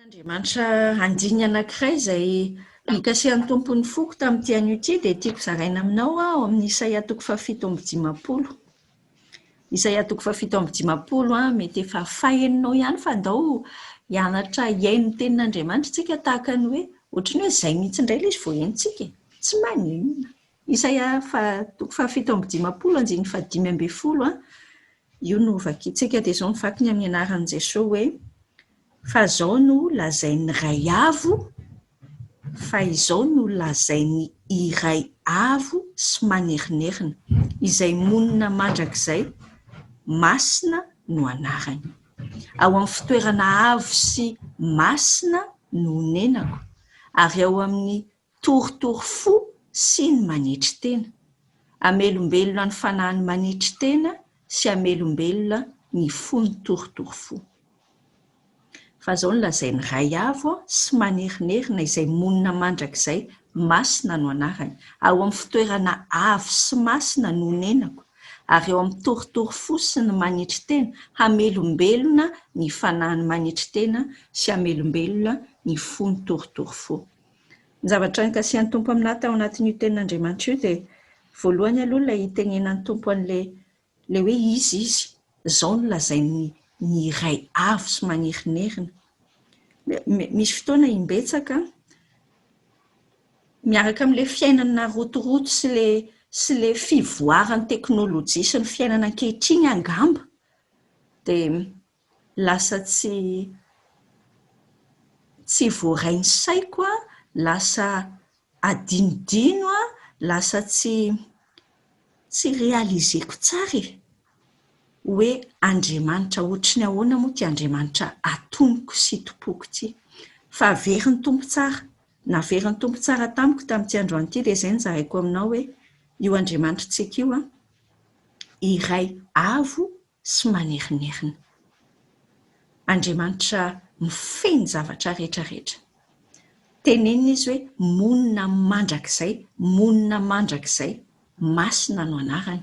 Andriamanitra andininy anankiray izay nikasihan'ny Tompo ny foko tamin'ity anio ity dia tiako zaraina aminao ao amin'ny Isaia toko fahafito amby dimampolo. Isaia toko fahafito amby dimampolo an, mety efa fahenonao ihany fa ndao hianatra hihaino ny tenin'Andriamanitra isika tahaka ny hoe ohatry ny hoe izay mihitsy indray ilay izy vao henontsika e! Tsy maninona. Isaia fa, toko fahafito amby dimampolo andininy fahadimy ambin'ny folo, io no vakintsika, dia izao no vakiny amin'ny anaran'i Jesoa hoe, Fa izao no lazain'ny Ray Avo, fa izao no lazain'ny Iray Avo sy Manerinerina, Izay monina mandrakizay, Masina no anarany. Ao amin'ny fitoerana avo sy masina no onenako, ary ao amin'ny Torotoro fo sy ny manetry tena. Hamelombelona ny fanahin'ny manetry tena sy hamelombelona ny fo ny torotoro fo. Fa izao no lazain'i Ray Avo sy Manerinerina izay monina mandrakizay masina no anarany, ao amin'ny fitoerana avo sy masina no onenako ary ao amin'ny torotoro fo sy ny manetry tena hamelombelona ny fanahin'ny manetry tena sy hamelombelona ny fo ny torotoro fo. Ny zavatra nikasihan'ny Tompo aminà tao anatin'io Tenin'Andriamanitra io dia voalohany aloha ilay itenenan'ny Tompo an'ilay ilay hoe Izy, Izy, izao no lazain'ny ny iray avo sy magnerinerina. Misy fotoana imbetsaka an, miaraka amin'ilay fiainana narotoroto sy ilay sy ilay fivoaran'ny teknolojia sy ny fiainana ankehitriny angamba dia lasa tsy tsy voaray ny saiko an, lasa adinodino an, lasa tsy tsy realiser-ko tsara e! hoe Andriamanitra hoatry ny ahoana moa ity Andriamanitra atonoko sy itompoako ity? Fa very ny Tompo tsara, navery ny Tompo tsara tamiko tamin'ity androany ity dia izay no zaraiko aminao hoe io Andriamanitrantsika io an, iray avo sy manerinerina. Andriamanitra mifehy ny zavatra rehetra rehetra. Tenenina izy hoe monina mandrakizay, monina mandrakizay, masina no anarany.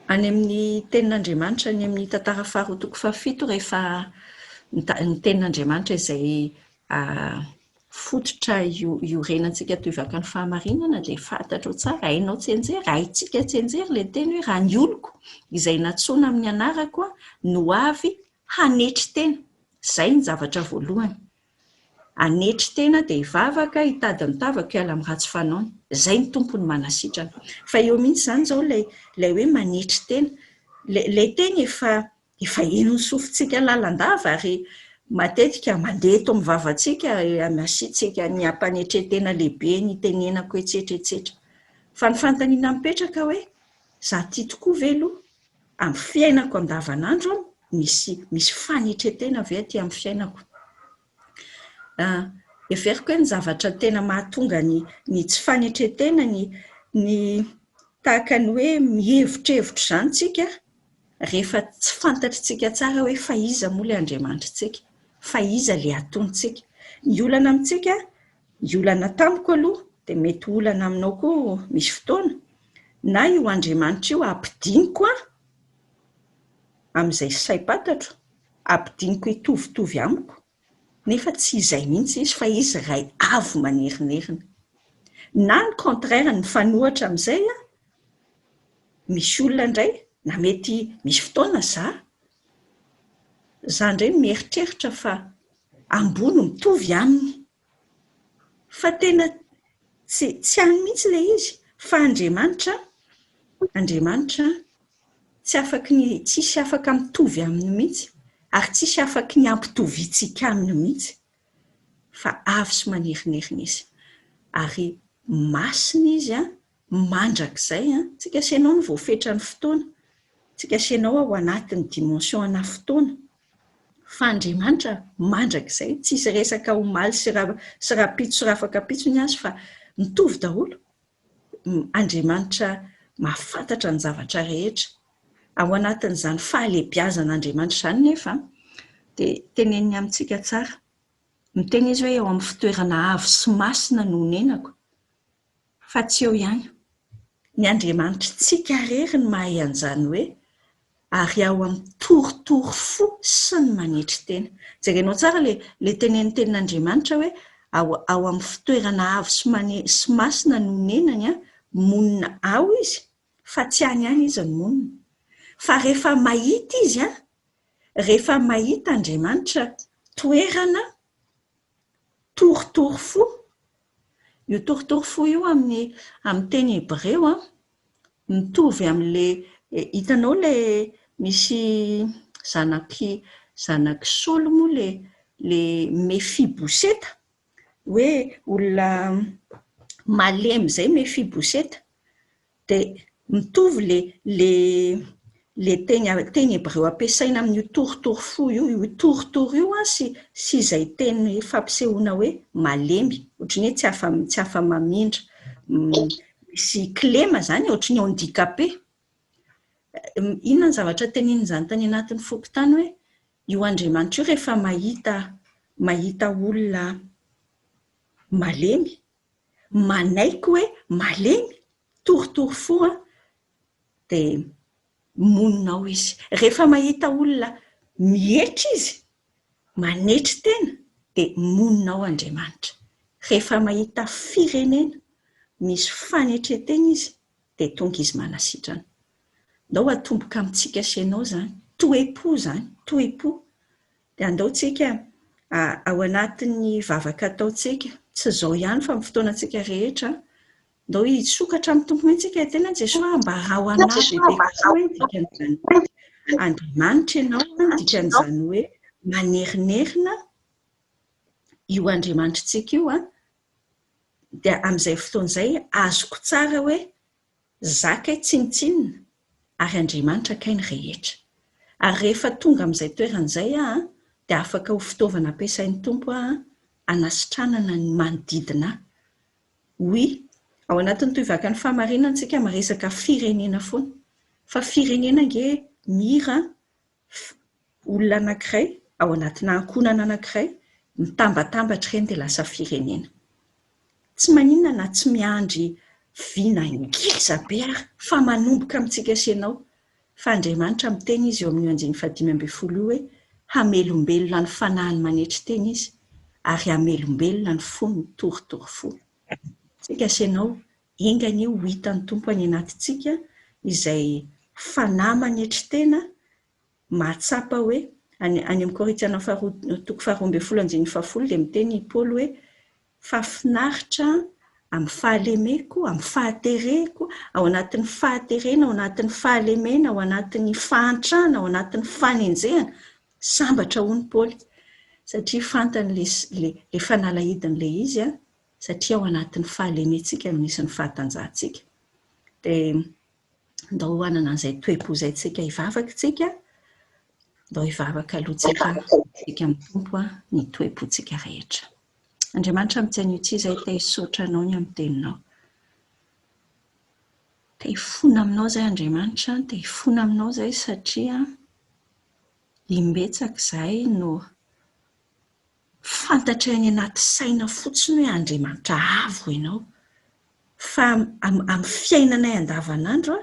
Any amin'ny tenin'Andriamanitra any amin'ny tantara faharoa toko fahafito rehefa ny tenin'Andriamanitra izay fototra iorenantsika toivaka ny fahamarinana dia fantatrao tsara, hainao tsianjery, haintsika tsianjery ilay teny hoe raha ny oloko izay nantsoina amin'ny anarako no avy hanetry tena, izay ny zavatra voalohany, hanetry tena dia hivavaka hitady ny tavako hiala amin'ny ratsy fanaony, izay ny Tompo no manasitrana. Fa eo mihitsy izany izao ilay hoe manetry tena, ilay teny efa Efa eny ny sofintsika lalandava ary matetika mandeha eto amin'ny vavantsika anasiantsika ny hampanetren-tena lehibe ny itenenako etsetra etsetra. Fa ny fanontaniana mipetraka hoe, za tia tokoa ve aloha? Amin'ny fiainako andavanandro an, misy misy fanetren-tena ve aty amin'ny fiainako? Heveriko hoe ny zavatra tena mahatonga ny ny tsy fanetren-tena ny ny tahaka ny hoe mihevitrevitra izany tsika rehefa tsy fantatritsika tsara hoe fa iza moa ilay Andriamanitritsika? Fa iza ilay atontsika? Ny olana amintsika, ny olana tamiko aloha, dia mety ho olana aminao koa misy fotoana, na io Andriamanitra io ampidiniko an, amin'izay saim-pantatro, ampidiniko hitovitovy amiko, nefa tsy izay mihitsy izy fa izy Ray avo manerinerina. Na ny contraire ny mifanohitra amin'izay aho, misy olona indray, na mety misy fotoana za, za indray mieritreritra fa amboa no mitovy aminy Fa tena tsy, tsy any mihitsy ilay izy. Fa Andriamanitra, Andriamanitra tsy afaky ny, tsisy afaka mitovy aminy mihitsy, ary tsisy afaky ny hampitoviantsika aminy mihitsy. Fa avo sy manerinerina izy. Ary masina izy an, mandrakizay an, tsy kasenao ny voafetran'ny fotoana, tsy kasenao ao anatin'ny dimension ana fotoana, fa Andriamanitra mandrakizay, tsisy resaka omaly sy ra sy rapitso sy rafakapitso ny azy fa mitovy daholo, Andriamanitra mahafantatra ny zavatra rehetra, ao anatin'izany fahalebiazan'Andriamanitra izany nefa an, dia teneniny amintsika tsara, miteny izy hoe eo amin'ny fitoerana avo sy masina no onenako, Fa tsy eo ihany. Ny Andriamanitritsika irery no mahay an'izany hoe ary ao amin'ny torotoro fo sy ny manetry tena. Jerenao tsara ilay ilay tenenin'ny Tenin'Andriamanitra hoe ao ao amin'ny fitoerana avo sy mane sy masina no onenany an, monina ao izy fa tsy any any izy no monina. Fa rehefa mahita izy an, rehefa mahita Andriamanitra toerana, Torotoro fo. Io torotoro fo io amin'ny amin'ny teny hebreo an, mitovy amin'ilay hitanao ilay misy zanak'i zanak'i Saoly moa ilay ilay Mefiboseta, hoe olona malemy izay Mefiboseta. Dia mitovy le le le teny teny hebreo ampiasaina amin'io torotoro fo io, io torotoro io an, sy sy izay teny fampisehoana hoe malemy, ohatry ny hoe tsy afa tsy afa-mamindra. Misy kilema izany e, ohatry ny handicapé. Inona ny zavatra tenenin'izany tany anatin'ny foko tany hoe io andriamanitra io rehefa mahita mahita olona malemy manaiky hoe malemy, torotoro fo an, dia monina ao izy. Rehefa mahita olona mihetra izy, manetry tena, dia monina ao Andriamanitra. Rehefa mahita firenena misy fanetren-tena izy, dia tonga izy manasitrana. Ndao hatomboka amintsika sy ianao izany. Toe-po izany, toe-po. Dia andao tsika ao anatin'ny vavaka ataontsika, tsy izao ihany fa amin'ny fotoanantsika rehetra, andao hisokatra amin'ny Tompo mihitsy isika, tena Jesoa ambarao ho anay bebe kokoa hoe ny dikan'izany hoe Andriamanitra ianao, ny dikan'izany hoe manerinerina io Andriamanitritsika io, dia amin'izay fotoana izay azoko tsara hoe Zah kay tsinontsinona ary Andriamanitra kay ny rehetra. Ary rehefa tonga amin'izay toerana izay aho an, dia afaka ho fitaovana ampiasain'ny Tompo aho an, hanasitranana ny manodidina ahy. Oui, ao anatin'ny tohivakan'ny fahamarinana isika miresaka firenena foana. Fa firenena ange mira an, olona anankiray ao anatina ankohonana anankiray mitambatambatra ireny dia lasa firenena. Tsy maninona na tsy miandry vina ngeza be ary fa manomboka amintsika sy ianao, fa Andriamanitra miteny Izy eo amin'io andininy fahadimy ambin'ny folo io hoe hamelombelona ny fanahiny manetry tena Izy ary hamelombelona ny fony torotoro fo. Tsika sy ianao Enga anie ho hitan'ny Tompo any anatintsika izay fanahy manetry tena mahatsapa hoe, any amin'ny Korintiana faharoa toko faharoa ambin'ny folo andininy fahafolo dia miteny i Paoly hoe, Fa finaritra amin'ny fahalemeko, amin'ny fahatereko, ao anatin'ny fahaterena, ao anatin'ny fahalemena, ao anatin'ny fahantrana, ao anatin'ny fanenjehana, sambatra hono Paoly satria fantany ilay fanalahidiny ilay izy, satria ao anatin'ny fahalementsika no misy ny fahatanjahantsika. Dia ndao hanana an'izay toe-po izay tsika hivavaka isika, ndao hivavaka aloha tsika isika amin'ny Tompo ny toe-pontsika rehetra. Andriamanitra amintsy anio tsy izay te hisaotra anao ny amin'ny teninao. Te hifona aminao izay Andriamanitra, te hifona aminao izay satria imbetsaka izay no Fantatra any anaty saina fotsiny hoe Andriamanitra avo ianao, fa amin'ny fiainanay andavanandro,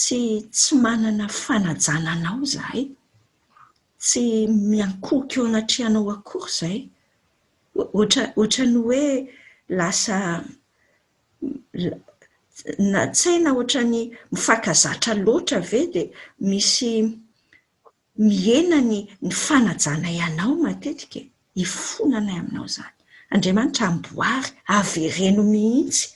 tsy tsy manana fanajana anao izahay, tsy miankohoka eo anatrehanao akory izahay, ohatra ohatra ny hoe lasa na tsaina ohatra ny mifankazatra loatra ve dia misy Mihena ny ny fanajanay anao matetika e! Ifonanay aminao izany. Andriamanitra amboary, avereno mihitsy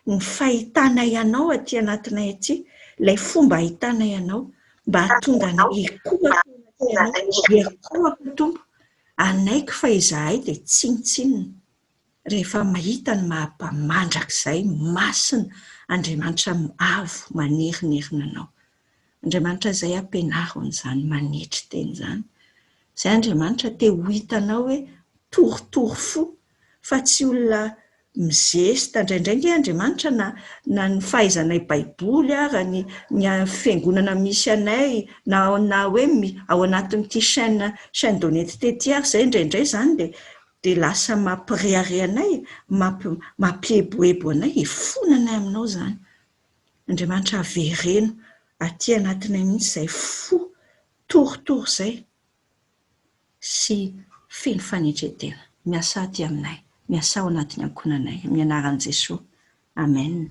ny fahitanay anao aty anatinay aty, ilay fomba ahitanay anao, mba hahatonga anay hikohaka eo anatinao, hihakohaka Tompo, hanaiky fa izahay dia tsinontsinona. rehefa mahita ny maha-mpamandrakizay masina Andriamanitra avo manerinerina anao. Andriamanitra izay hampianaro an'izany manetry tena izany. Izay Andriamanitra te ho hitanao hoe torotoro fo fa tsy olona mizesta. Indraindray ange Andriamanitra na na ny fahaizanay baiboly ara ny ny fiangonana misy anay na na hoe ao anatin'ity chaine chaine d'honnetete ity ary izay indraindray izany dia dia lasa mampirehareha anay, mampi, mampieboebo anay, hifona anay aminao izany. Andriamanitra avereno aty anatinay mihitsy izay fo torotoro izay, sy feno fanetren-tena. Miasà aty aminay. Miasà ao anatin'ny ankohonanay. Amin'ny anaran'i Jesoa. Amen.